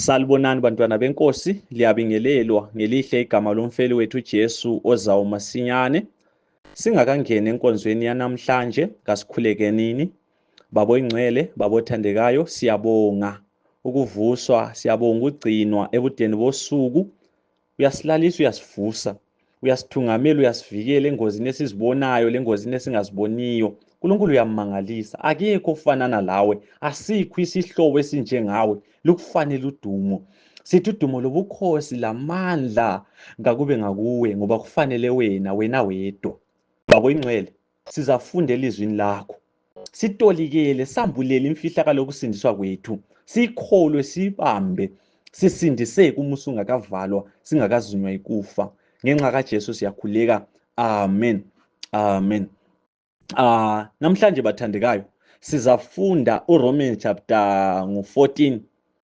Salibonani bantwana benkosi, liyabingelelwa ngelihle igama lomfeli wethu Jesu ozawo masinyane. Singakangeni enkonzweni yanamhlanje, kasikhulekenini. Babo ingcwele, babo thandekayo, siyabonga ukuvuswa, siyabonga ukugcinwa ebudeni bosuku. uyasilalisa uyasivusa uyasithungamela uyasivikela engozini esizibonayo lengozini esingaziboniyo unkulunkulu uyammangalisa akekho ofanana lawe asikho isihlobo esinjengawe lukufanele udumo sithi udumo lobukhosi lamandla kakube ngakuwe ngoba kufanele wena wena wedwa babo ingcwele sizafunda elizwini lakho sitolikele sambulele imfihlakalo yokusindiswa kwethu sikholwe sibambe sisindiseke umusa ungakavalwa singakazunywa ikufa ngenxa kajesu siyakhuleka amen amen uh, namhlanje bathandekayo sizafunda uromans chapter ngu-14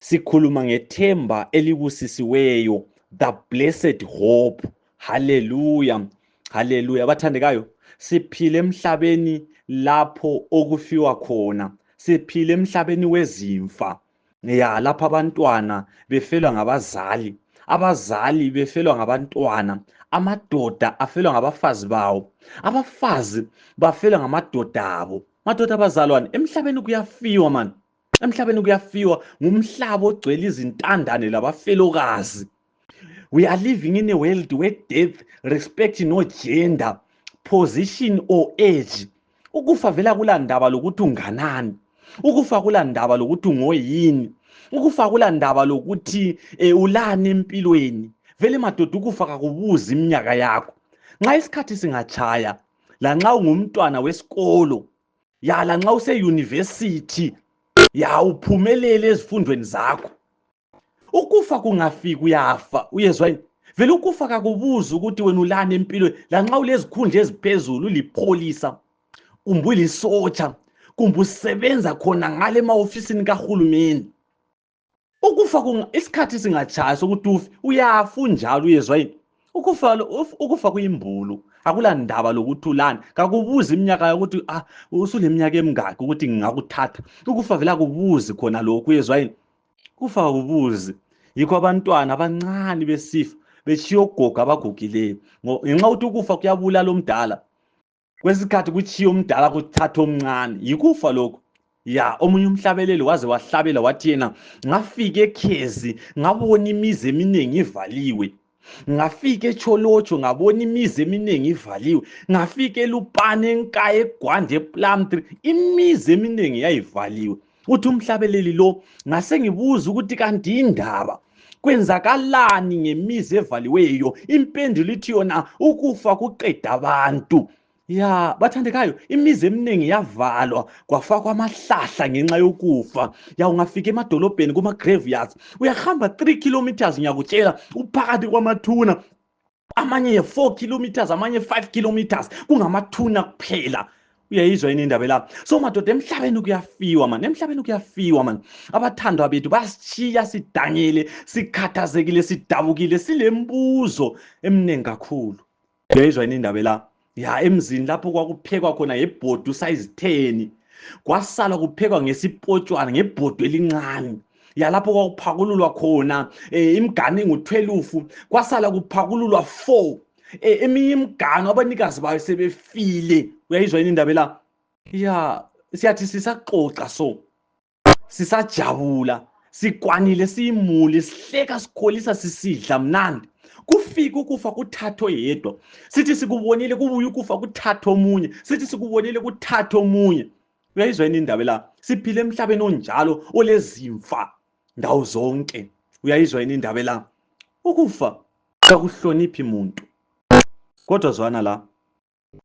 sikhuluma ngethemba elibusisiweyo the blessed hope haleluya haleluya bathandekayo siphile emhlabeni lapho okufiwa khona siphile emhlabeni wezimfa ya lapho abantwana befelwa ngabazali abazali befelwa ngabantwana amadoda afelwa ngabafazi bawo abafazi bafelwa ngamadoda abo madoda abazalwane emhlabeni kuyafiwa mani emhlabeni kuyafiwa ngumhlaba ogcwele izintandane labafelokazi we are living in a world where death respect no gender position or age ukufa vela kulandaba lokuthi unganani ukufa kulandaba lokuthi ungoyini ukufa kulandaba lokuthi um ulani empilweni vele madoda ukufa kakubuzi iminyaka yakho nxa isikhathi singatshaya lanxa ungumntwana wesikolo ya lanxa useyunivesithi ya uphumelele ezifundweni zakho ukufa kungafika uyafa uyezwa yini vele ukufa kakubuzi ukuthi wena ulani empilweni lanxa ulezikhundla eziphezulu ulipholisa kumbe ulisotsha kumbe usebenza khona ngale emahofisini kahulumeni ukufa isikhathi singatshaya sokuthi ufe uyafa unjalo uyezwa yini ukufa ukufa kuyimbulu akulandaba lokuthi ulani kakubuzi iminyaka yokuthi ah usuleminyaka emingaki ukuthi ngingakuthatha ukufa vele akubuzi khona lokhu uyezwa yini kufa akubuzi yikho abantwana abancane besifa betshiya ogogo abagugileyo ngenxa yokuthi ukufa kuyabulala omdala kwesikhathi kutshiye umdala kuthatha omncane yikufa lokhu ya omunye umhlabeleli waze wahlabela wathi yena ngafika ekhezi ngabona imizi eminingi ivaliwe ngafika echolotsho ngabona imizi eminingi ivaliwe ngafika elupane enkaya egwande eplamtri imizi eminingi yayivaliwe uthi umhlabeleli lo ngasengibuza ukuthi kanti indaba kwenzakalani ngemizi evaliweyo impendulo ithi yona ukufa kuqeda abantu ya bathandekayo imizi eminingi yavalwa kwafakwa amahlahla ngenxa yokufa ya ungafika emadolobheni kuma-graveyards uyahamba 3 kilometers ngiyakutshela uphakathi kwamathuna amanye ye-four kilometers amanye five kilometers kungamathuna kuphela uyayizwa yini indaba elapha so madoda emhlabeni kuyafiwa mani emhlabeni kuyafiwa mani abathandwa bethu basishiya sidangile sikhathazekile sidabukile silembuzo eminingi kakhulu uyayizwa yini indaba elapha ya emzini lapho kwakuphekwa khona ngebhodo usayizitheni kwasala kuphekwa ngesipotshwana ngebhodo elincane yalapho kwakuphakululwa khona um imigane ngutwelufu kwasala kuphakululwa four um eminye imigano abanikazi bayo sebefile uyayizwa yini indaba la ya siyathi sisaxoxa so sisajabula sikwanile siyimuli sihleka sikholisa sisidla mnandi kufike ukufa kuthathwe yedwa sithi sikubonile kubuye ukufa kuthathwe omunye sithi sikubonile kuthathwe omunye uyayizwa yini indaba la siphile emhlabeni onjalo olezimfa ndawo zonke uyayizwa yini indaba la ukufa kakuhloniphi muntu kodwa zwana la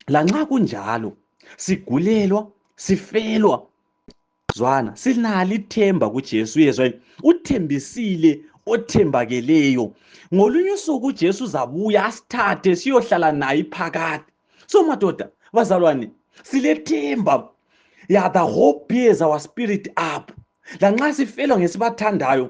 lanxa kunjalo sigulelwa sifelwa zwana silalo ithemba kujesu uyezwa yini uthembisile othembakeleyo ngolunye usuku ujesu uzabuya asithathe siyohlala naye phakade so madoda bazalwane silethemba ya the hope bears our spirit up lanxa sifelwa ngesibathandayo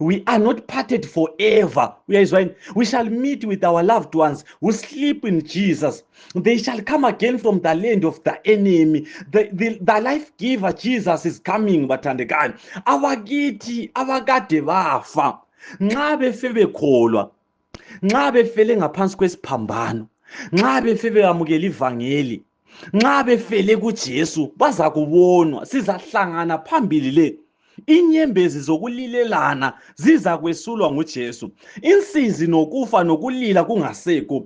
we are not parted forever uyayizwa yini we shall meet with our loved ones who sleep in jesus they shall come again from the land of the enemy the, the, the life giver jesus is coming bathandekayo abakithi abakade bafa nxa befe bekholwa nxa befele ngaphansi kwesiphambano nxa befe beyamukela ivangeli nxa befele kujesu bazakubonwa sizahlangana phambili le inyembezi zokulilelana zizakwesulwa ngujesu insizi nokufa nokulila kungasekho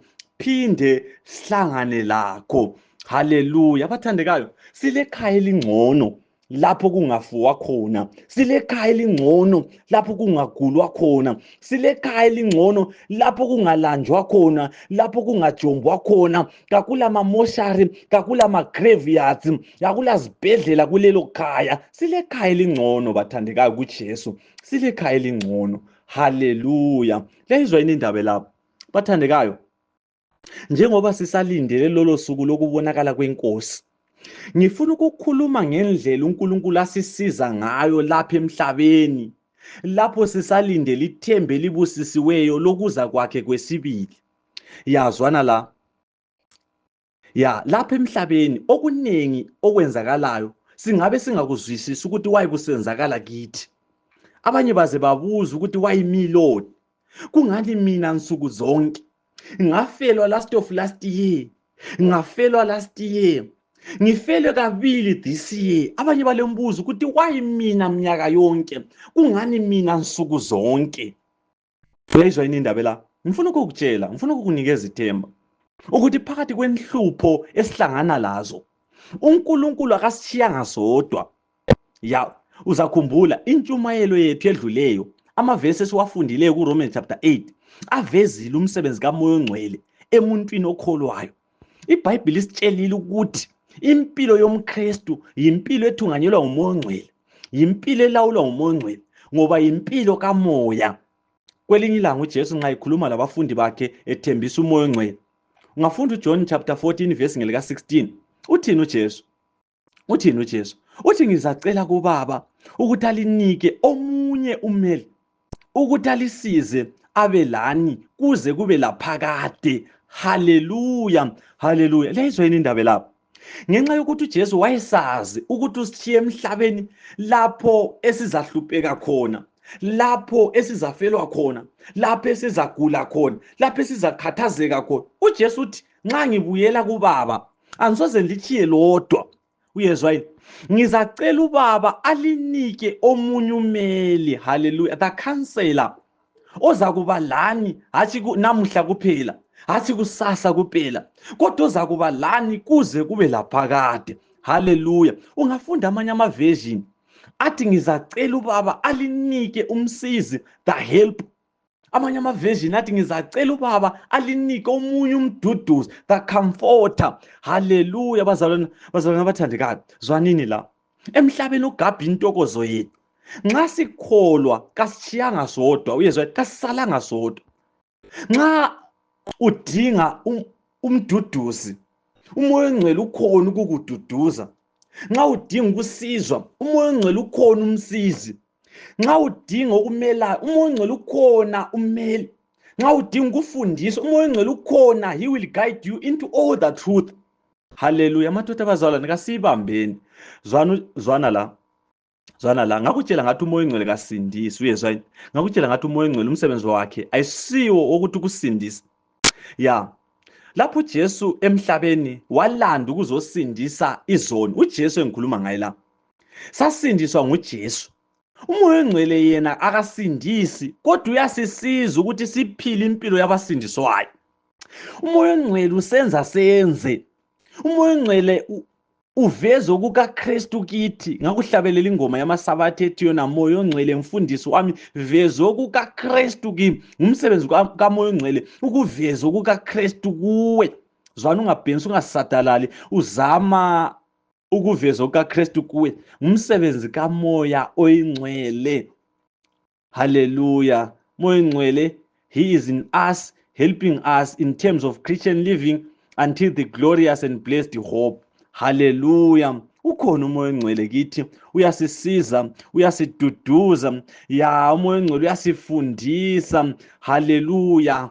phinde sihlangane lakho haleluya abathandekayo silekhaya elingcono lapho kungafuwa khona silekhaya elingcono lapho kungagulwa khona silekhaya elingcono lapho kungalanjwa khona lapho kungajombwa khona kakula mamoshari kakula magraveyards kakula zibhedlela kulelo khaya silekhaya elingcono bathandekayo kujesu silekhaya elingcono haleluya leyizwa yini indaba lapho bathandekayo njengoba sisalindele lolo suku lokubonakala kwenkosi ngifuna ukukhuluma ngendlela unkulunkulu asisiza ngayo lapha emhlabeni lapho sisalindele ithemba elibusisiweyo lokuza kwakhe kwesibili yazwana la ya lapha emhlabeni okuningi okwenzakalayo singabe singakuzwisisi ukuthi wayekusenzakala kithi abanye baze babuza ukuthi wayimiloni kungani mina nsuku zonke ngafelwa last of last year ngafelwa last year ngifelwe kabili this year abanye balembuzo ukuthi why mina mnyaka yonke kungani mina nsuku zonke uyayizwa yini indaba la ngifuna ukukutshela ngifuna ukukunikeza ithemba ukuthi phakathi kwenhlupho esihlangana lazo uNkulunkulu akasishiyanga sodwa ya uzakhumbula intshumayelo yethu edluleyo amavesi esiwafundileyo kuromans chapter 8 avezile umsebenzi kamoya ongcwele emuntwini okholwayo ibhayibhili isitshelile ukuthi impilo yomkristu yimpilo ethunganyelwa ngumoya ongcwele yimpilo elawulwa ngumoya ongcwele ngoba yimpilo kamoya kwelinye ilanga ujesu nxa ekhuluma labafundi bakhe ethembisa umoya ongcwele ungafunda ujohn chapter 14 vesi ngelika-16 uthini ujesu uthini uJesu uthi ngizacela kubaba ukuthi alinike omunye umeli ukuthi alisize abe lani kuze kube laphakade haleluya haleluya leyizwa yini indaba lapho ngenxa yokuthi uJesu wayesazi ukuthi usishiye emhlabeni lapho esizahlupheka khona lapho esizafelwa khona lapho esizagula khona lapho esizakhathazeka khona uJesu uthi nxa ngibuyela kubaba angisoze ngilitshiye lodwa uyezwa yini ngizacela ubaba alinike omunye umeli haleluya the counselor ozakuba lani hatshi namuhla kuphela hatshi kusasa kuphela kodwa ozakuba lani kuze kube laphakade haleluya ungafunda amanye amaversion athi ngizacela ubaba alinike umsizi the help amanye amaversion athi ngizacela ubaba alinike omunye umduduzi the comforter haleluya bazalwana bazalwana abathandekayo zwanini la emhlabeni ugabha intokozo yethu nxa sikholwa kasishiyanga sodwa uyezwa kasisalanga sodwa nxa udinga um, umduduzi umoya ongcwele ukhona ukukududuza nxa udinga ukusizwa umoya ongcwele ukhona umsizi nxa udinga ukumelayo umoya ongcwele ukhona umeli nxa udinga ukufundisa umoya ongcwele ukhona he will guide you into all the truth haleluya amadoda abazalwane kasiyibambeni zwana la zwana la ngakutshela ngathi umoya ongcwele kasindisi uyezwa yini ngakutshela ngathi umoya ongcwele umsebenzi wakhe ayisiwo wokuthi ukusindisa ya lapho ujesu emhlabeni walanda ukuzosindisa izoni ujesu engikhuluma ngaye la sasindiswa nguJesu umoya ongcwele yena akasindisi kodwa uyasisiza ukuthi siphile impilo yabasindiswayo umoya ongcwele usenza senze umoya ongcwele uveze okukaKristu kithi ngakuhlabelela ingoma yamasabatha ethi yona moya ongcwele mfundisi wami veze okukaKristu kimi ngumsebenzi kamoya ongcwele ukuveza okukaKristu kuwe zwana ungabhensi ungasadalali uzama ukuvezwa kukaKristu kuwe ngumsebenzi kaMoya oyingcwele haleluya Moya oyingcwele he is in us helping us in terms of Christian living until the glorious and blessed hope haleluya ukhona umoya ongcwele kithi uyasisiza uyasiduduza ya umoya ongcwele uyasifundisa haleluya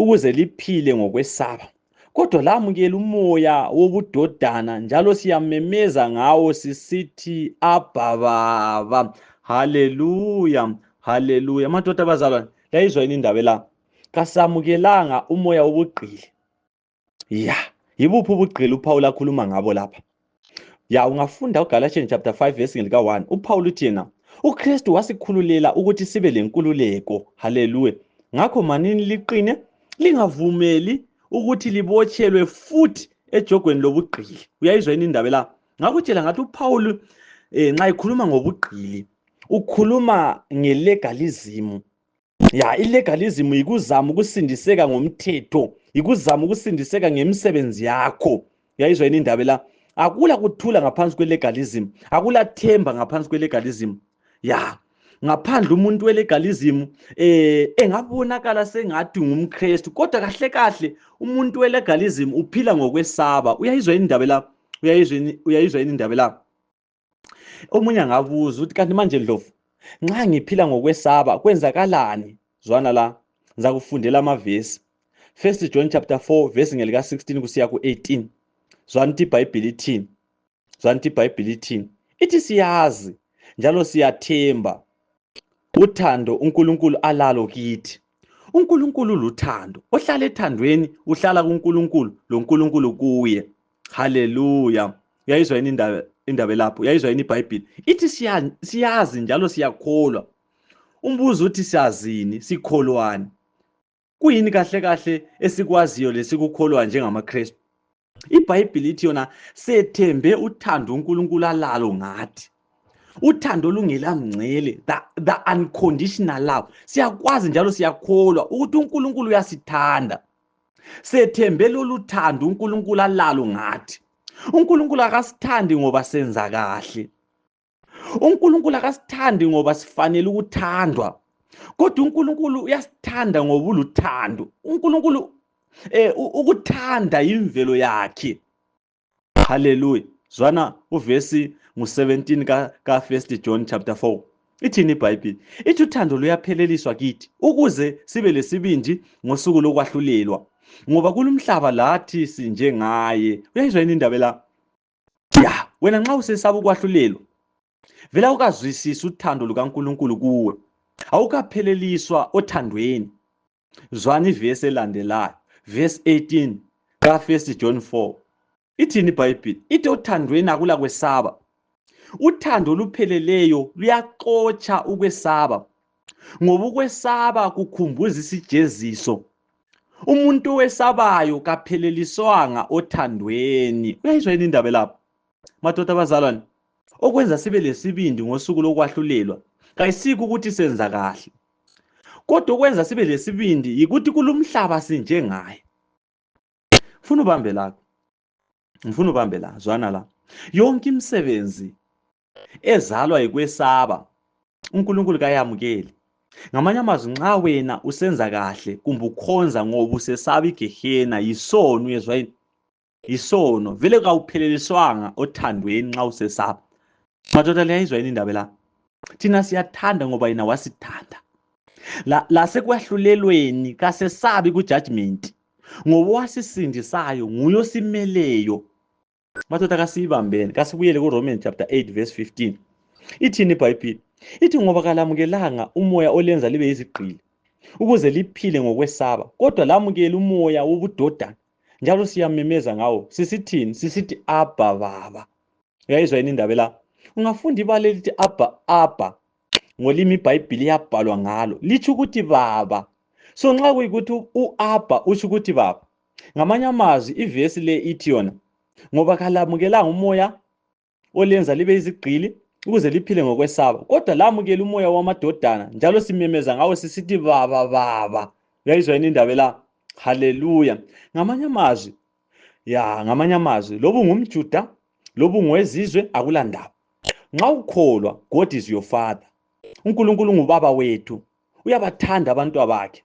ukuze liphile ngokwesaba kodwa lamukela umoya wobudodana njalo siyamemeza ngawo sisithi abha baba haleluya haleluya madoda abazalwane yayizwa yini indaba la kasamukelanga umoya wobugqili ya yibuphi ubugqili uphawula akhuluma ngabo lapha ya ungafunda ugalatians chapter 5 verse lika-1 uphawula uthi yena ukristu wasikhululela ukuthi sibe lenkululeko haleluya ngakho manini liqine lingavumeli ukuthi libotshelwe futhi ejogweni lobugqili uyayizwa yini indaba la ngakutshela ngathi uphawulu um eh, nxa ekhuluma ngobugqili ukhuluma ngelegalizimu ya illegalism yikuzama ukusindiseka ngomthetho yikuzama ukusindiseka ngemisebenzi yakho yayizwa yini indaba la akula kuthula ngaphansi kwelegalism akula themba ngaphansi kwelegalism ya ngaphandle umuntu welegalism eh engabonakala sengathi ngumkristu kodwa kahle kahle umuntu welegalism uphila ngokwesaba uyayizwa yini indaba la uyayizwa yini indaba la omunye angabuza ukuthi kanti manje ndlovu nxa ngiphila ngokwesaba kwenzakalani zwana la ngizakufundela amavesi first john chapter 4 vesi ngelika-16 kusiya ku-18 zwana ukuthi ibhayibhili ithini zwana ukuthi ibhayibhili ithini ithi siyazi njalo siyathemba uthando unkulunkulu alalo kithi unkulunkulu luthando ohlala ethandweni uhlala kunkulunkulu lonkulunkulu kuye haleluya uyayizwa yini indaba indaba elapho uyayizwa yini ibhayibhile ithi siyazi njalo siyakholwa umbuzo uthi siyazini sikholwani kuyini kahle kahle esikwaziyo lesikukholwa njengamakristu ibhayibhile ithi yona sethembe uthando unkulunkulu alalo ngathi uthando olungelamngcele the, the unconditional love siyakwazi njalo siyakholwa ukuthi unkulunkulu uyasithanda sethembe lolu thando uNkulunkulu alalo ngathi uNkulunkulu akasithandi ngoba senza kahle uNkulunkulu akasithandi ngoba sifanele ukuthandwa kodwa uNkulunkulu uyasithanda ngoba uluthando uNkulunkulu eh ukuthanda imvelo yakhe haleluya zwana uvesi ngu-17 ka, ka first john chapter 4 ithini ibhayibhile ithi uthando luyapheleliswa kithi ukuze sibe lesibindi ngosuku lokwahlulelwa ngoba kulumhlaba lathi sinjengaye uyayizwa yini indaba la ya wena nxa usesaba ukwahlulelwa vela ukazwisisa uthando lukankulunkulu kuwe awukapheleliswa othandweni Zwani ivesi elandelayo, verse 18 ka 1 John 4. Ithini iBhayibhili? Ithi othandweni akula kwesaba. Uthando olupheleleyo luyaxotsha ukwesaba ngoba ukwesaba kukhumbuza isijeziso umuntu owesabayo kapheleliswanga othandweni uyayizwa yini indaba lapho madoda abazalwane okwenza sibe lesibindi ngosuku lokwahlulelwa kayisiko ukuthi senza kahle kodwa okwenza sibe lesibindi yikuthi kulumhlaba sinjengaye funa ubambe lakho ngifuna ubambe la zwana la yonke imisebenzi ezalwa yikwesaba uNkulunkulu kayamukeli ngamanye amazwi nxa wena usenza kahle kumbe ukhonza ngoba usesaba igehena yisono uyezwa yini yisono vele kawupheleliswanga othandweni nxa usesaba madoda liyayizwa yini indaba la thina siyathanda ngoba yena wasithanda lasekwahlulelweni la kasesabi kujudgment ngoba owasisindisayo nguye osimeleyo madoda kasiyibambeni kasibuyele kuromans chapter 8 verse 15 ithini ibhayibhile ithi ngoba kalamukelanga umoya olenza libe yizigqili ukuze liphile ngokwesaba kodwa lamukele umoya wobudodana njalo siyamemeza ngawo sisithini sisithi abha baba uyayizwa yini indaba la ungafunda ibala elithi abha abha ngolimi ibhayibhili yabhalwa ngalo litsho ukuthi baba so nxa kuyikuthi u-abha utsho ukuthi baba ngamanye amazwi ivesi le ithi yona ngoba kalamukelanga umoya olenza libe izigqili ukuze liphile ngokwesaba kodwa lamukela umoya wamadodana njalo simemeza ngawo sisithi baba baba uyayizwa yini indaba la haleluya ngamanye amazwi ya ngamanye amazwi loba ungumjuda loba ungowezizwe akulandaba nxa ukholwa god is your father unkulunkulu ngubaba wethu uyabathanda abantwa bakhe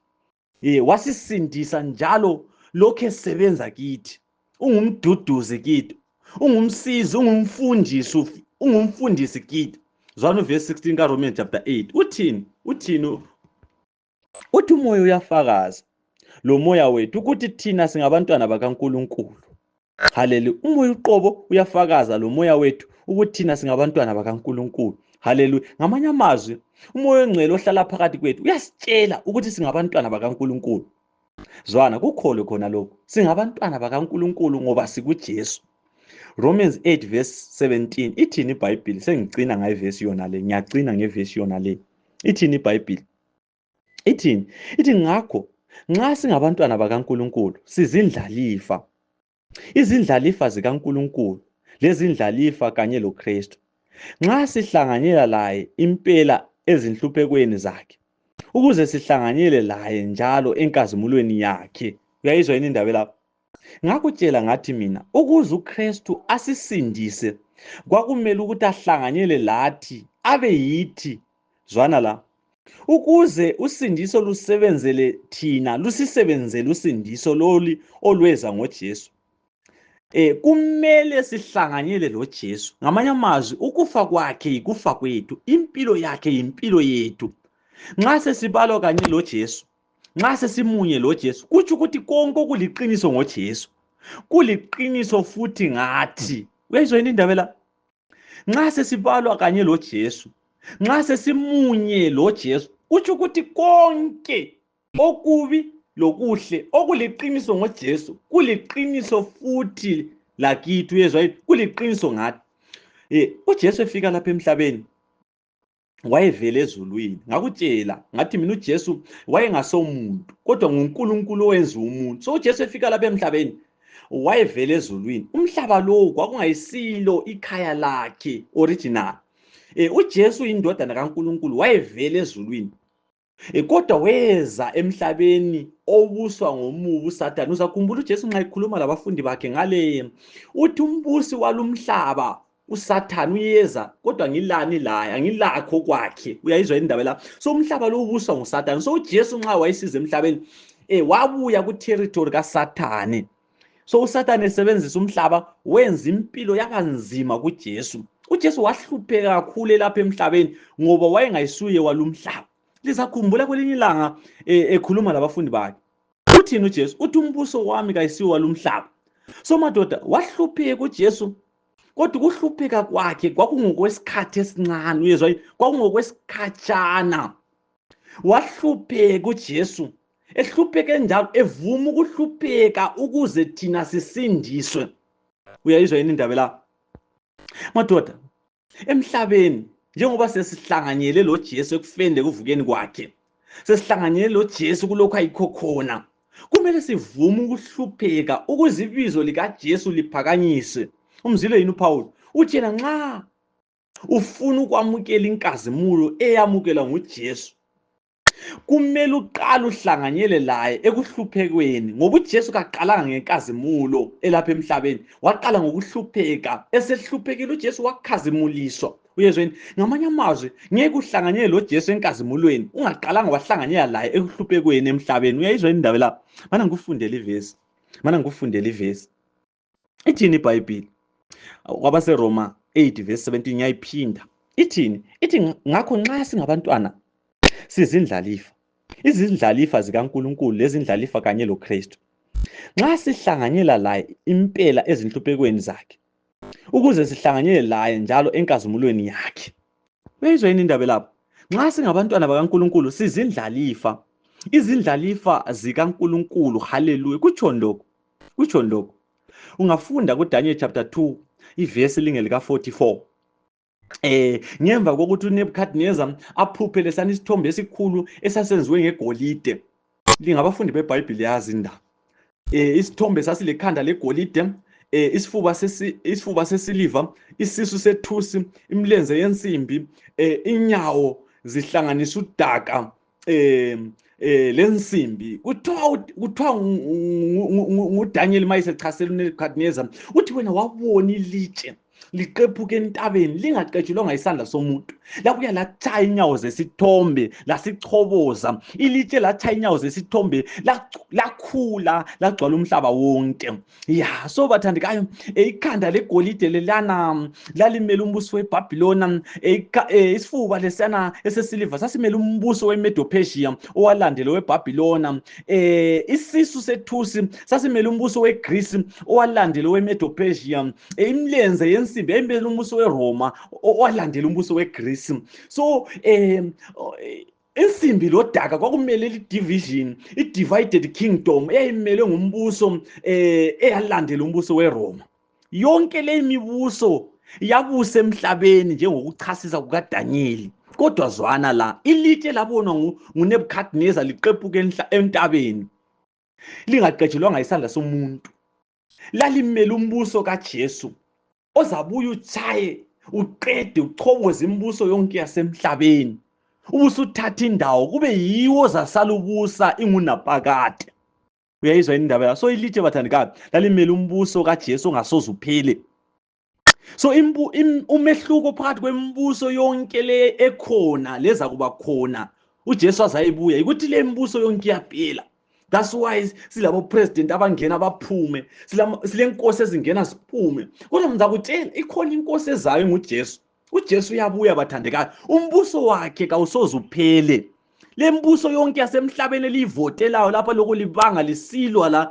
ye wasisindisa njalo lokhu esebenza kithi ungumduduzi kithi ungumsizi ungumfundisi ungumfundisi kithi zwana uvesi 16 karomans chapter 8 uthini uthini uthi umoya uyafakaza lo moya wethu ukuthi thina singabantwana bakankulunkulu halelu umoya uqobo uyafakaza lomoya wethu ukuthi thina singabantwana bakankulunkulu haleluya ngamanye amazwi umoya ongcwele ohlala phakathi kwethu uyasitshela ukuthi singabantwana bakankulunkulu zwana kukholo khona lokhu singabantwana bakankulunkulu ngoba sikujesu romans 8 verse 17 ithini ibhayibhili sengicina ngayivesi yona le ngiyacina ngevesi yona le ithini ibhayibhili ithini ithi ngakho nxa singabantwana bakaNkulunkulu sizindlalifa izindlalifa zikaNkulunkulu lezindlalifa kanye loKristu nxa sihlanganyela laye impela ezinhluphekweni zakhe ukuze sihlanganyele laye njalo enkazimulweni yakhe uyayizwa yini indaba lapho Ngakutshela ngathi mina ukuze uKristu asisindise kwakumele ukuthi ahlanganyele lathi abe yithi zwana la ukuze usindiso lusebenzele thina lusisebenzele usindiso loli olweza ngoJesu eh kumele sihlanganyele loJesu ngamanye amazwi ukufa kwakhe yikufa kwethu impilo yakhe yimpilo yethu nxa sesibalwa kanye loJesu nxa sesimunye loJesu kutsho ukuthi konke okuliqiniso ngoJesu kuliqiniso futhi ngathi uyayizwa yini indaba la nxa sesibalwa kanye loJesu nxa sesimunye loJesu kutsho ukuthi konke okubi lokuhle okuliqiniso ngoJesu kuliqiniso futhi lakithi uyezwa yini kuliqiniso ngathi eh uJesu efika lapha emhlabeni wayevele ezulwini ngakutshela ngathi mina uJesu wayengasomuntu kodwa nguNkulunkulu owenza umuntu so uJesu efika lapha emhlabeni wayevele ezulwini umhlaba lowo kwakungayisilo ikhaya lakhe original eh uJesu indodana kaNkulunkulu wayevele ezulwini E, kodwa weza emhlabeni obuswa ngomubi uSathane. Uzakhumbula uJesu nxa ekhuluma labafundi bakhe ngale uthi umbusi walumhlaba uSathane uyeza kodwa ngilani laye angilakho kwakhe. Uyayizwa indaba la. So umhlaba lo ubuswa nguSathane. So uJesu nxa wayesiza emhlabeni eh wabuya ku territory kaSathane. so usathane esebenzisa umhlaba wenza impilo yabanzima kujesu ujesu wahlupheka kakhulu elapha emhlabeni ngoba wayengayisuye walumhlaba lisakhumbula kwelinye ilanga e, ekhuluma labafundi bakhe uthini ujesu uthi umbuso wami kayisiwo walumhlaba so madoda wahlupheka ujesu kodwa ukuhlupheka kwakhe kwakungokwesikhathi esincane uyezwa kwakungokwesikhatshana wahlupheka uJesu ehlupheke njalo evuma ukuhlupheka ukuze thina sisindiswe uyayizwa yini indaba la madoda emhlabeni njengoba sesihlanganyele lo Jesu ekufeni lekuvukeni kwakhe sesihlanganyele lo Jesu kulokho ayikho khona kumele sivume ukuhlupheka ukuze ibizo likaJesu liphakanyiswe umzile yini uPaul uthi yena nxa ufuna ukwamukela inkazimulo eyamukelwa nguJesu kumele uqale uhlanganyele laye ekuhluphekweni ngoba uJesu kaqalanga ngenkazimulo elapha emhlabeni waqala ngokuhlupheka esehluphekile uJesu wakhazimuliswa uyezweni ngamanye amazwi ngeke uhlanganyele loJesu enkazimulweni ungaqalanga wahlanganyela laye ekuhluphekweni emhlabeni uyayizwa indaba lapha mana ngikufundele ivesi mana ngikufundele ivesi ithini ibhayibhile kwabaseroma 8 verse 17 yayiphinda ithini ithi ngakho nxa singabantwana sizindlalifa izindlalifa zikankulunkulu lezindlalifa kanye lokristu nxa sihlanganyela laye impela ezinhluphekweni zakhe ukuze sihlanganyele laye njalo enkazimulweni yakhe uyayizwa yini indaba lapho nxa singabantwana bakankulunkulu sizindlalifa izindlalifa zikankulunkulu haleluya kutshoni lokhu kutshoni lokhu ungafunda kudaniel chapter 2 ivesi linge lika-44 eh ngemva kokuthi uNebuchadnezzar aphuphe lesani isithombe esikhulu esasenziwe ngegolide lingabafundi beBhayibheli yazi indaba eh isithombe sasilekhanda legolide eh isifuba sesi isifuba sesiliva isisu sethusi imilenze yensimbi eh inyawo zihlanganisa udaka um eh lensimbi kuthiwa kuthiwa ngudaniel ma esechasela unebukadnezar uthi wena wabona ilitshe liqephuke entabeni lingaqetshelwanga isandla somuntu lakuya latshaya inyawo zesithombe lasichoboza ilitshe latshaya inyawo zesithombe lakhula lagcwala umhlaba wonke ya so bathandekayo eh, ikhanda legolide lelana lalimele umbuso webhabhilona eh, eh, isifuba lesiyana esesiliva sasimele umbuso wemedopesia owalandela owebhabhilona um isisu sethusi sasimele umbuso wegrisi owalandela owemedopesia um imilenze yensimbi yayimele umbuso weroma owalandela umbuso wegrisi so um insimbi lodaka kwakumele lidivision i-divided kingdom eyayimelwe ngumbuso um eyalandela umbuso weroma yonke leyi mibuso yabusa emhlabeni njengokuchasisa kukadanyeli kodwa zwana la ilitshe labonwa ngunebukadneza liqephuke entabeni lingaqetshelwanga isandla somuntu lalimele umbuso kajesu ozabuye utshaye uqede uchoboze imibuso yonke yasemhlabeni ubusuthatha indawo kube yiwo zasalubusa ingunapakade uyayizwa yini indaba yaso ilitshe bathandikabi lalimele umbuso kajesu ongasoze uphele so imbu, im, umehluko phakathi kwemibuso yonke le ekhona leza kuba khona ujesu azayibuya yikuthi le mibuso yonke iyaphela that's why silabo president abangena baphume silenkosi ezingena ziphume kodwa ngizakutshela ikhona inkosi ezayo ngujesu ujesu uyabuya bathandekayo umbuso wakhe kawusoze uphele le mbuso yonke yasemhlabeni eliyivotelayo lapha lokhu libanga lisilwa la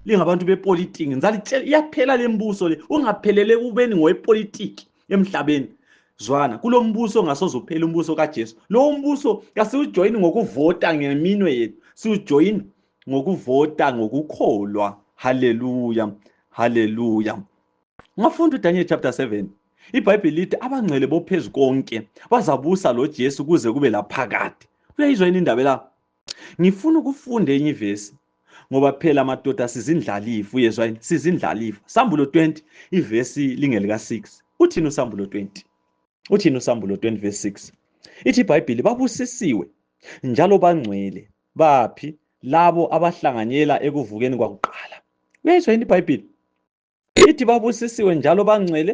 lingabantu bepolitiki ngizalitshela iyaphela lembuso le ungaphelele kubeni ngowepolitiki emhlabeni zwana kulo mbuso ngasoze uphele umbuso kajesu lowo mbuso kasiwujoyini ngokuvota ngeminwe yethu siwujoyini ngokuvota ngokukholwa haleluya haleluya ungafunda udaniel chapter 7 ibhayibheli lithi abangcwele bophezu konke bazabusa lojesu kuze kube laphakade uyayizwa yini indaba la ngifuna ukufunda enyivesi ngoba phela madoda sizindlalifu uyezwa yini sizindlalifu sambulo 20 ivesi lingelika 6 uthini usambulo 20 uthini usambulo 20 verse 6 ithi ibhayibhili babusisiwe njalo bangcwele baphi labo abahlanganyela ekuvukeni kwakuqala uyayizwa yini ibhayibhili ithi babusisiwe njalo bangcwele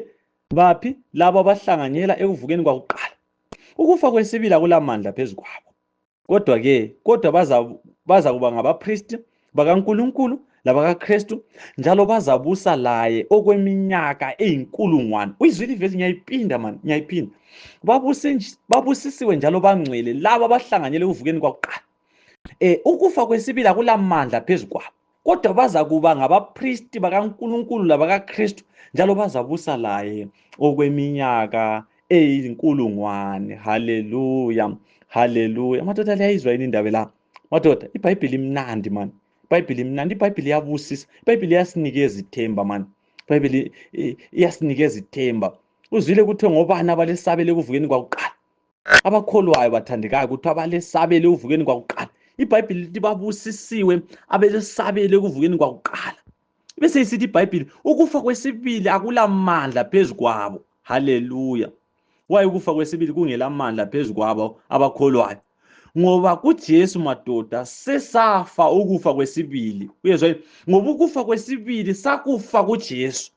baphi labo abahlanganyela ekuvukeni kwakuqala ukufa kwesibili akulamandla phezu kwabo kodwa ke kodwa baza kuba ngabapristi bakankulunkulu labakakristu njalo bazabusa laye okweminyaka eyinkulungwane uyizwa ilivesi ngiyayipinda mani ngiyayiphinda babusisiwe njalo bangcwele labo abahlanganyela ekuvukeni kwakuqala um ukufa kwesibili akulamandla phezu kwabo kodwa bazakuba ngabaphristi bakankulunkulu labakakristu njalo bazabusa laye okweminyaka eyinkulungwane haleluya haleluya amadoda liyayizwa yini indaba la madoda ibhayibhili imnandi mani ibhayibhili imnandi ibhayibhili iyabusisa ibhayibhili iyasinikeza ithemba mani ibhayibhili iyasinikeza ithemba uzwile kuthiwe ngobani abalesabele ekuvukeni kwakuqala abakholwayo bathandekayo kuthiwa balesabele ekuvukeni kwakuqala ibhayibhili lithi babusisiwe abelesabele ekuvukeni kwakuqala bese isithi ibhayibhili ukufa kwesibili akulamandla phezu kwabo haleluya waye ukufa kwesibili kungelamandla phezu kwabo abakholwayo ngoba kuJesu madoda sesafa ukufa kwesibili uyezwa ngoba ukufa kwesibili sakufa kuJesu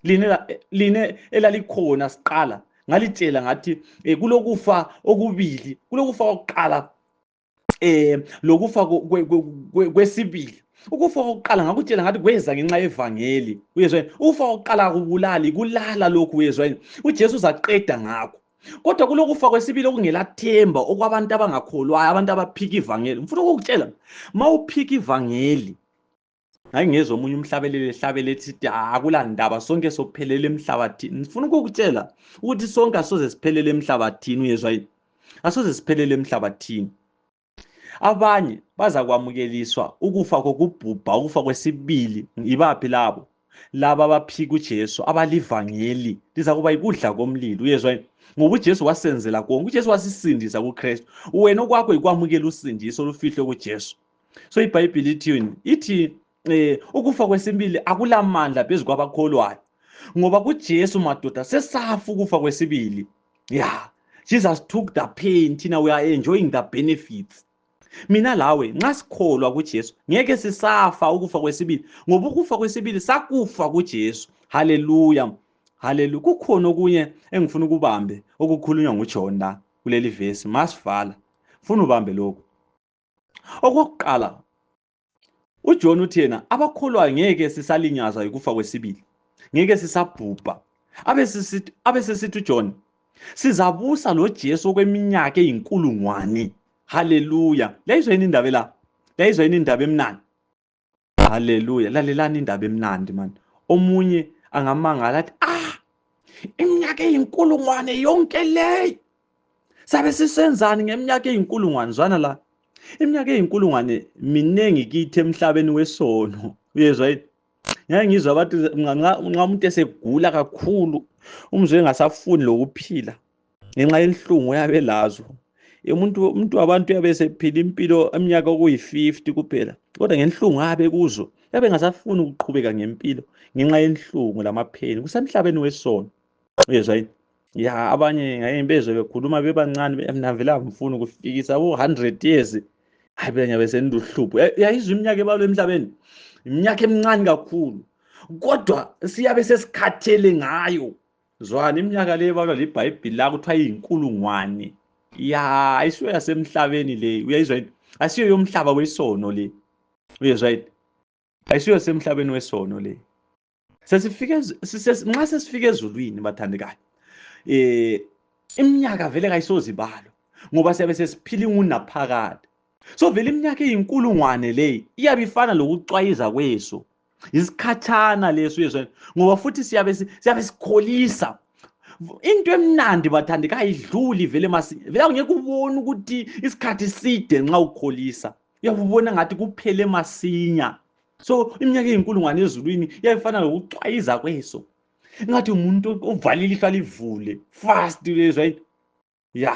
lina lina elalikhona siqala ngalitshela ngathi eh, kulokufa okubili kulokufa kokuqala eh lokufa kwesibili ukufa kokuqala ngakutshela ngathi kweza ngenxa yevangeli uyezwa ukufa kokuqala kubulali kulala lokhu uyezwa uJesu uzaqeda ngakho kodwa kulokufa kwesibili okungelathemba okwabantu abangakholwayo abantu abaphika ivangeli ngifuna ukukutshela ma uphika ivangeli ngangingezwa omunye umhlabeleli ehlabele sithi akula ndaba sonke sophelele emhlabathini ngifuna ukukutshela ukuthi sonke asoze siphelele emhlabathini uyezwa yini asoze siphelele emhlabathini abanye bazakwamukeliswa ukufa kokubhubha ukufa kwesibili yibaphi labo laba abaphika ujesu abalivangeli lizakuba yikudla komlilo uyezwa yini ngoba ujesu wasenzela konke ujesu wasisindisa kukristu wena okwakho yikwamukela usindiso olufihlwe kujesu so ibhayibhili ithini ithi eh ukufa kwesibili akulamandla phezu kwabakholwayo ngoba kuJesu madoda sesafa ukufa kwesibili yeah Jesus took the pain thina we are enjoying the benefits mina lawe nxa sikholwa kuJesu ngeke sisafa ukufa kwesibili ngoba ukufa kwesibili sakufa kuJesu haleluya haleluya kukhona okunye engifuna ukubambe okukhulunywa nguJohn la kuleli verse masivala funa ubambe lokho okokuqala uJohn uthi yena abakholwayo ngeke sisalinyazwa yikufa kwesibili ngeke sisabhubha abesesithi uJohn sizabusa loJesu okweminyaka eyinkulungwane haleluya yayizwa yini indaba la yayizwa yini indaba emnandi haleluya lalelani indaba emnandi mani omunye angamangala athi ah iminyaka eyinkulungwane yonke leyo sabe sisenzani ngeminyaka eyinkulungwane zwana la iminyaka eyinkulungwane miningi kithi emhlabeni wesono uyezwa yini ngeke ngizwa abantu nxa umuntu esegula kakhulu umzwe engasafuni lokuphila ngenxa yenhlungu oyabe elazo umuntu umuntu wabantu uyabe esephila impilo eminyaka okuyi-50 kuphela kodwa ngenhlungu abe kuzo yabe engasafuni ukuqhubeka ngempilo ngenxa yenhlungu lamapheni kusemhlabeni wesono uyezwa yini ya abanye ngaye bezwe bekhuluma bebancane mina vele angifuni ukufikisa u-hundred years hayi phela ngiyabe senduhlupho yayizwa iminyaka ebalwa emhlabeni iminyaka emincane kakhulu kodwa siyabe sesikhathele ngayo Zwana iminyaka le ebalwa libhayibhili la kuthiwa iyinkulungwane. Ya, ayisiyo yasemhlabeni le. Uyayizwa yini? Asiyo yomhlaba wesono le. Uyezwa yini? Ayisiyo yasemhlabeni wesono le. Sesifike ez- sise- nxa sesifike ezulwini bathandekayo. Eh iminyaka vele kayisoze ibalwe ngoba siyabe sesiphila ingunaphakade. so vele iminyaka eyinkulungwane leyi iyabe ifana lokucwayiza kweso yisikhatshana leso yeso ngoba futhi siyabe siyabe sikholisa into emnandi bathandi kayidluli vele masi vele awungeke ubone ukuthi isikhathi side nxa ukholisa uyabubona ngathi kuphele masinya so iminyaka eyinkulungwane ezulwini iyayifana lokucwayiza kweso ngathi umuntu uvalile ihlo alivule fast lezwa ya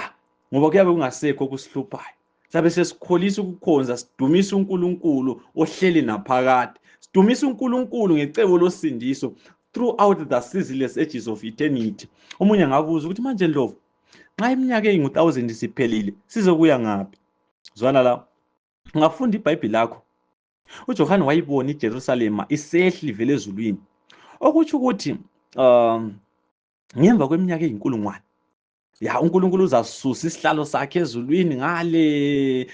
ngoba kuyabe kungasekho okusihluphayo sabe sesikholisa ukukhonza sidumisa uNkulunkulu ohleli naphakade sidumisa uNkulunkulu ngecebo losindiso throughout the seasonless ages of eternity omunye angabuza ukuthi manje ndlovu nxa iminyaka eyingu-1000 isiphelile sizokuya ngaphi zwana la ungafunda ibhayibhili lakho ujohane wayibona ijerusalema isehli vele ezulwini okutsho ukuthi um ngemva kweminyaka eyinkulungwane ya uNkulunkulu uzasusa isihlalo sakhe ezulwini ngale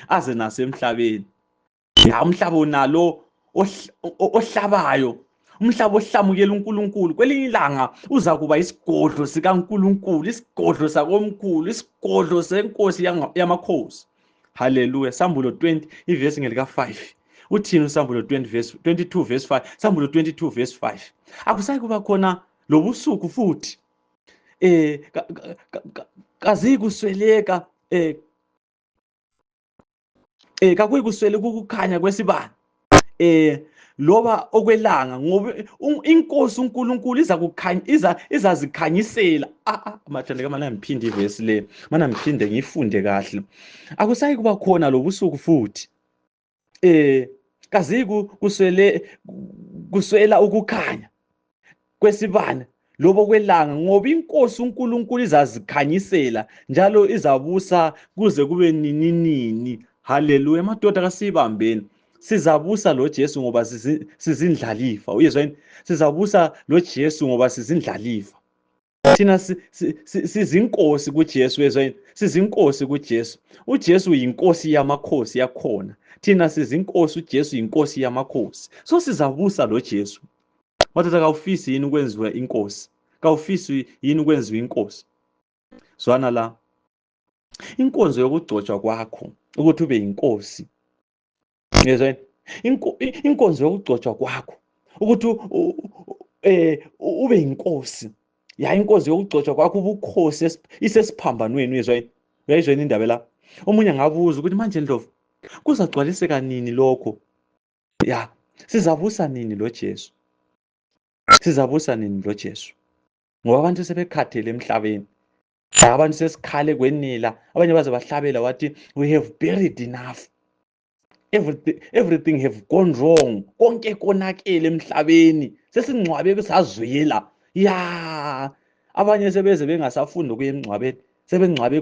aze nasemhlabeni ya umhlaba unalo ohlabayo umhlaba ohlamukela uNkulunkulu kwelinye ilanga uza kuba isigodlo sikaNkulunkulu isigodlo sakomkhulu isigodlo senkosi yamakhosi haleluya sambulo 20 ivesi ngelika 5 uthini usambulo 20 verse 22 verse 5 sambulo 22 verse 5 akusayi kuba khona lobusuku futhi eh, ka, ka, ka, ka, kaziyikusweleka eh, eh, kakuyikusweleka ukukhanya kwesibani eh, loba okwelanga ngoba inkosi uNkulunkulu iza kukhanya iza izazikhanyisela ah, ah amathanda ke mana ngiphinde ivesi le mana ngiphinde ngifunde kahle akusayi kuba khona lobusuku futhi eh kaziku kuswele kuswela ukukhanya kwesibane lobo kwelanga ngoba inkosi uNkulunkulu izazikhanyisela njalo izabusa kuze kube nininini haleluya madoda kasibambeni sizabusa loJesu ngoba sizindlalifa uyezwa yini sizabusa loJesu ngoba sizindlalifa thina sizinkosi kuJesu ezweni sizinkosi kuJesu uJesu yinkosi yamakhosi yakhona thina sizinkosi uJesu yinkosi yamakhosi so sizabusa loJesu wathatha kawufisi yini ukwenziwa inkosi kawufisi yini ukwenziwa inkosi zwana la inkonzo yokugcotshwa kwakho ukuthi ube yinkosi ngezweni inkonzo yokugcotshwa kwakho ukuthi eh ube inkosi yayi inkosi yokugcotshwa kwakho ubukhosi isesiphambanweni uyezwa yini uyayizwa yini indaba la omunye angabuza ukuthi manje ndlovu kuzagcwaliseka nini lokho ya sizabusa nini lo Jesu sizabusa nini lo Jesu ngoba abantu sebekhathele emhlabeni abantu sesikhale kwenila abanye baze bahlabela wathi we have buried enough everything, everything have gone wrong konke konakele emhlabeni sesingcwabe kusazwela ya abanye sebeze bengasafundi ukuya emngcwabeni sebengcwabe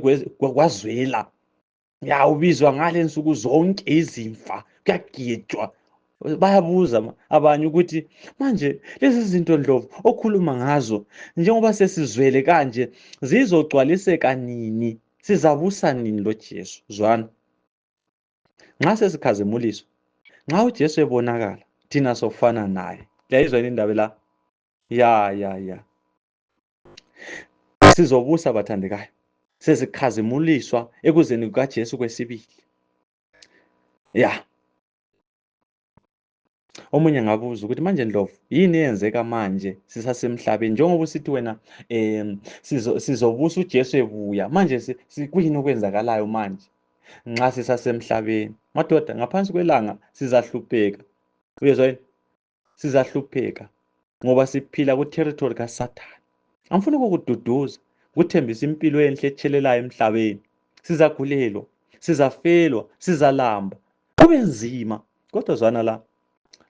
kwazwela ya ubizwa ngale nsuku zonke izimfa kuyagijwa bayabuza abanye ukuthi manje lezi zinto ndlovu okhuluma ngazo njengoba sesizwele kanje zizogcwaliseka nini sizabusa nini lojesu zwana nxa sesikhazimuliswa nxa ujesu ebonakala thina sofana naye liyayizwa yini indaba la ya ya ya sizobusa bathandekayo sezikhazimuliswa ekuzeni kukaJesu kwesibili ya omunye ngabuza ukuthi manje ndlovu yini eyenzeka manje sisasemhlabeni njengoba usithi wena um sizobusa ujesu ebuya manje kuyini okwenzakalayo manje nxa sisasemhlabeni madoda ngaphansi kwelanga sizahlupheka uyezwa yini sizahlupheka ngoba siphila kuterritori kasathane angifuni ukukududuza kuthembisa impilo enhle etshelelayo emhlabeni sizagulelwa sizafelwa sizalamba kube nzima kodwa zwana la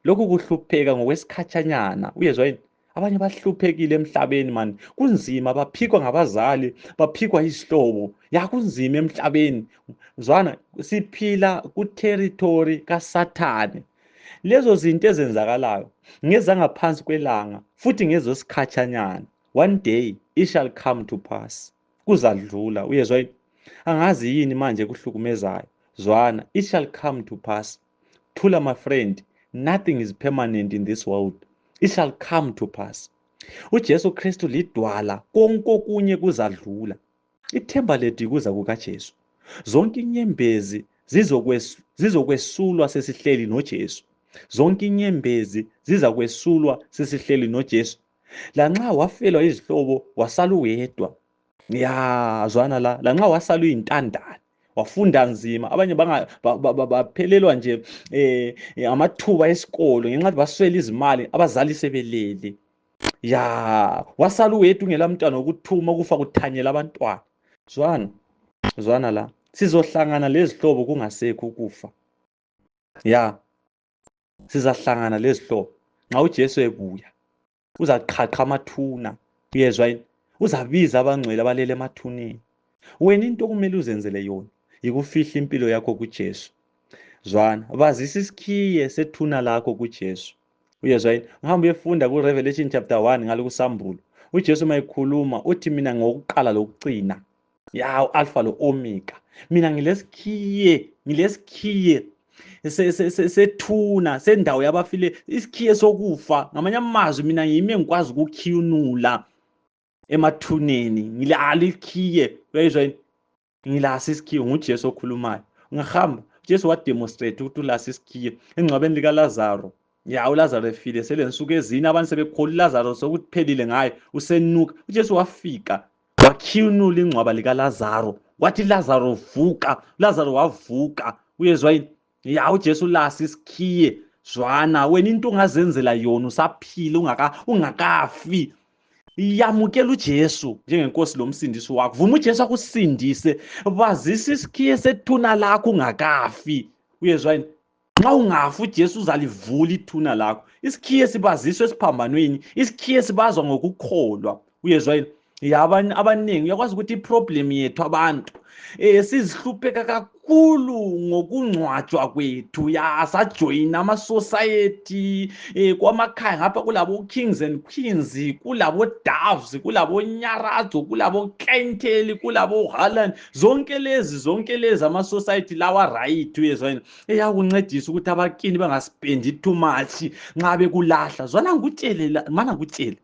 lokhu kuhlupheka ngokwesikhatshanyana uyezwa yini abanye bahluphekile emhlabeni mani kunzima baphikwa ngabazali baphikwa izihlobo ya kunzima emhlabeni zwana siphila kuterritori kasathane Lezo zinto ezenzakalayo ngezangaphansi kwelanga futhi ngezosikhatshanyana. One day it shall come to pass. Kuzadlula. Uyezwa yini? Angazi yini manje ekuhlukumezayo. Zwana, it shall come to pass. Thula my friend, nothing is permanent in this world. It shall come to pass. UJesu Kristu lidwala konke okunye kuzadlula. Ithemba lethu yikuza kukaJesu. Zonke inyembezi zizokwesulwa sesihleli noJesu. Zonke inyembezi zizakwesulwa sesihleli noJesu. Lanxa wafelwa izihlobo wasala uwedwa. Ya zwana la, lanxa wasala uyintandane wafunda nzima abanye baphelelwa nje um amathuba esikolo ngenxa yokuthi baswele izimali abazali sebelele ya wasala uwedwa ungela mntwana wokuthuma ukufa kuthanyela abantwana zwana zwana la sizohlangana lezihlobo kungasekho ukufa ya sizahlangana lezihlobo nxa ujesu ebuya uzaqhaqha amathuna uyezwa yini uzabiza abangcwele abalele emathuneni wena into okumele uzenzele yona yikufihla impilo yakho kujesu zwana bazisa isikhiye sethuna lakho kujesu uyezwa yini uhambe uyefunda ku-revelation chapter 1 ngalo kusambulo ujesu uma ekhuluma uthi mina ngokuqala lokucina ya u-alfa lo-omega mina ngilesikhiye ngilesikhiye sethuna sendawo yabafile isikhiye sokufa ngamanye amazwi mina yimi engikwazi ukukhiyunula emathuneni ngilalo ikhiye uyayizwa yini ngilasi isikhiwo ngujesu okhulumayo ngihamba ujesu wademonstrate ukuthi ulasi isikhiwo engcwabeni likalazaro ya ulazaro efile selensuku ezine abantu sebekhola ulazaro sokuphelile ngaye usenuka ujesu wafika wakhiyunula ingcwaba likalazaro wathi lazaro vuka lazaro wavuka uyezwa yini ya ujesu lasi sikhiye zwana wena into ungazenzela yona usaphile ungakafi yamukela ujesu njengenkosi lo msindisi wakho vuma ujesu akusindise bazisa isikhiye sethuna lakho ungakafi uyezwa yini nxa ungafi ujesu uzalivula ithuna lakho isikhiye sibaziswa esiphambanweni isikhiye sibazwa ngokukholwa uyezwa yini ya abanye abaningi uyakwazi ukuthi iproblem yethu abantu eh sizihlupheka kakhulu ngokungcwatshwa kwethu ya sajoyina amasociety eh kwamakhaya ngapha kulabo kings and queens kulabo doves kulabo nyaradzo kulabo kenteli kulabo halan zonke lezi zonke lezi amasociety lawa right uyezwa yini eyakuncedisa ukuthi abakini bangaspendi too much nxa bekulahla zwana ngikutshele mana ngikutshele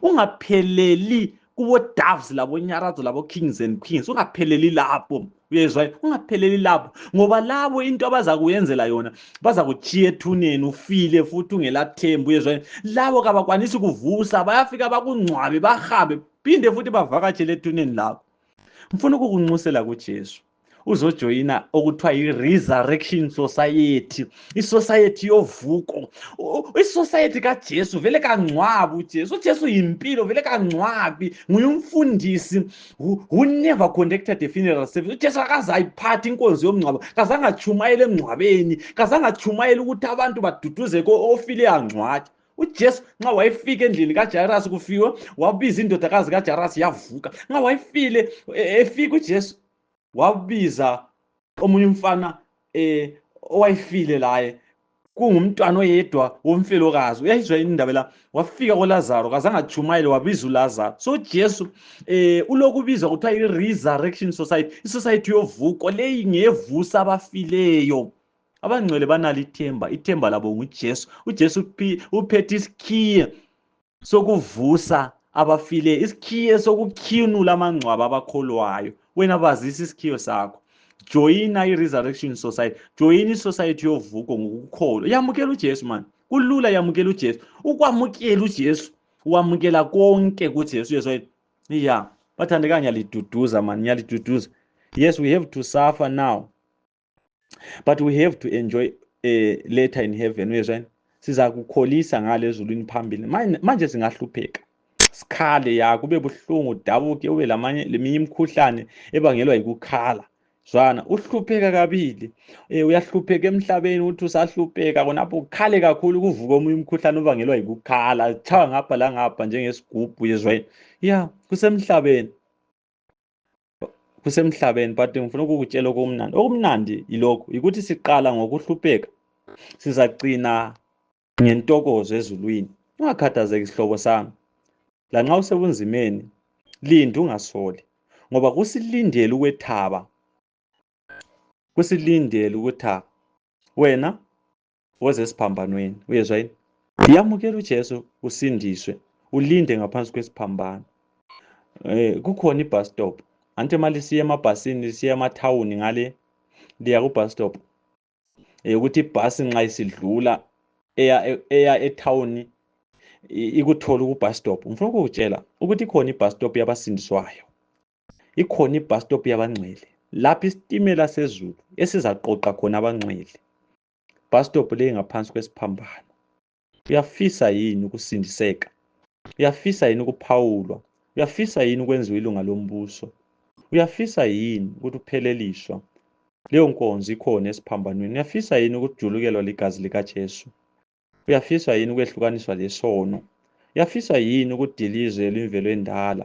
ungapheleli kubodoves labonyarazo labo-kings and queens ungapheleli lapho uyezwa ungapheleli lapho ngoba labo into abazakuyenzela yona bazakuchiya ethuneni ufile futhi ungelathembu uyezwa labo kabakwanisi kuvusa bayafika bakungcwabe bahambe phinde futhi bavakatshele ethuneni lakho ngifuna ukukunxusela kujesu uzojoyina okuthiwa yi-resurrection society isociety yovuko isociety kajesu vele kangcwabi ujesu ujesu yimpilo vele kangcwabi nguye umfundisi who never conducted a funeral service ujesu akaze ayiphathi inkonzo yomngcwabo kazangatshumayela emngcwabeni kazangatshumayela ukuthi abantu baduduze ko ofile angcwatsha ujesu nxa wayefika endlini kajarasi kufiwe wabiza indodakazi kajarasi yavuka nxa wayefile e, efika ujesu wabiza omunye umfana um owayefile laye kungumntwana oyedwa womfelokazi uyayizwa yini indaba la wafika kolazaro kazangatshumayele wabiza ulazaro so ujesu um eh, ulokubiza kuthiwa i-resurrection society isociety yovuko leyi ngeyevusa abafileyo abangcwele banalo ithemba ithemba labo ngujesu ujesu uphethe isikhiye sokuvusa abafileyo isikhiye sokukhiyunula amangcwaba abakholwayo wena bazisa isikhiyo sakho joyina i-resurrection society joyina isociety yovuko ngokukholwa yamukela ujesu mani kulula yamukela ujesu ukwamukela ujesu wamukela konke kujesu yesu wayethi ya bathandeka ngiyaliduduza mani ngiyaliduduza yes we have to suffer now but we have to enjoy a later in heaven uyezwani siza kukholisa ngale ezulwini phambili manje singahlupheka sikhale ya kube buhlungu udabuke ube lamanye leminye imikhuhlane ebangelwa yikukhala zwana uhlupheka kabili um uyahlupheka emhlabeni ukuthi usahlupheka khonapho ukhale kakhulu kuvuka omunye umkhuhlane obangelwa yikukhala chawa ngapha langapha njengesigubhu yezwayini ya kusemhlabeni kusemhlabeni but ngifuna ukukutshela okumnandi okumnandi yilokhu yikuthi siqala ngokuhlupheka sizagcina ngentokozo ezulwini ungakhathazeki sihlobo sami lanxa usebunzimeni lindi ungasoli ngoba kusilindele ukwethaba kusilindele ukuthaba wena woze esiphambanweni uyezwa yini yamukela ujesu usindiswe ulinde ngaphansi kwesiphambano um kukhona ibus stop anti uma lisiya emabhasini lisiya emathawuni ngale liya kubus stop um ukuthi ibhasi nxa isidlula eya eya ethawuni ikuthola kubus stop ngifuna ukukutshela ukuthi ikhona ibus stop yabasindiswayo ikhona ibus stop yabangcwele lapho isitimela sezulu esizaqoqa khona abangcwele bus stop leyi ngaphansi kwesiphambano uyafisa yini ukusindiseka uyafisa yini ukuphawulwa uyafisa yini ukwenziwa ilunga lombuso uyafisa yini ukuthi upheleliswa leyo nkonzo ikhona esiphambanweni uyafisa yini ukujulukelwa ligazi likajesu uyafisa yini ukwehlukaniswa lesono uyafisa yini ukudilizwe lwimvelo endala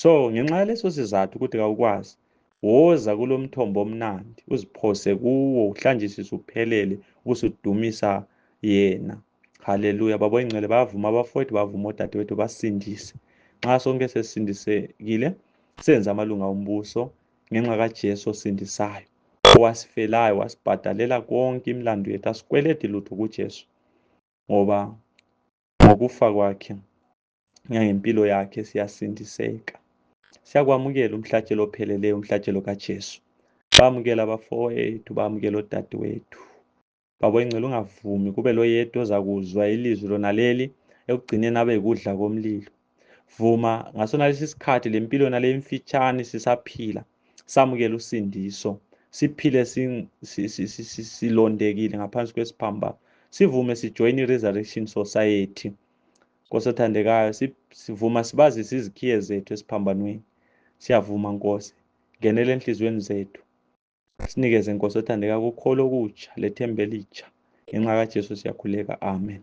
So ngenxa yaleso sizathu ukuthi kawukwazi, woza kulomthombo omnandi, uziphose kuwo, uhlanjisise uphelele, ubusudumisa yena. Haleluya. Baba oyingcwele bayavuma abafowethu, bavuma odadewethu, basindise. Nxa sonke sesisindisekile, senze amalunga ombuso ngenxa kaJesu osindisayo, owasifelayo, wasibhadalela konke imlandu yethu, asikweledi lutho kuJesu, ngoba ngokufa kwakhe ngangempilo yakhe siyasindiseka siyakwamukela umhlatshelo opheleleyo umhlatshelo kaJesu bamukela abafowethu bamukela odadewethu baba ingcela ungavumi kube loyedwa ozakuzwa ilizwi lona leli ekugcineni abe yikudla komlilo vuma ngasona lesi sikhathi lempilo yona le mfitshane sisaphila samukela usindiso siphile silondekile ngaphansi kwesiphambano sivume sijoyine i-resurrection society Nkosi othandekayo, sivuma sibazise izikhiye zethu esiphambanweni. Siyavuma Nkosi, ngenela enhliziyweni zethu. Sinikeze Nkosi othandekayo kukholo okutsha lethemba elitsha. Ngenxa kaJesu siyakhuleka. Amen.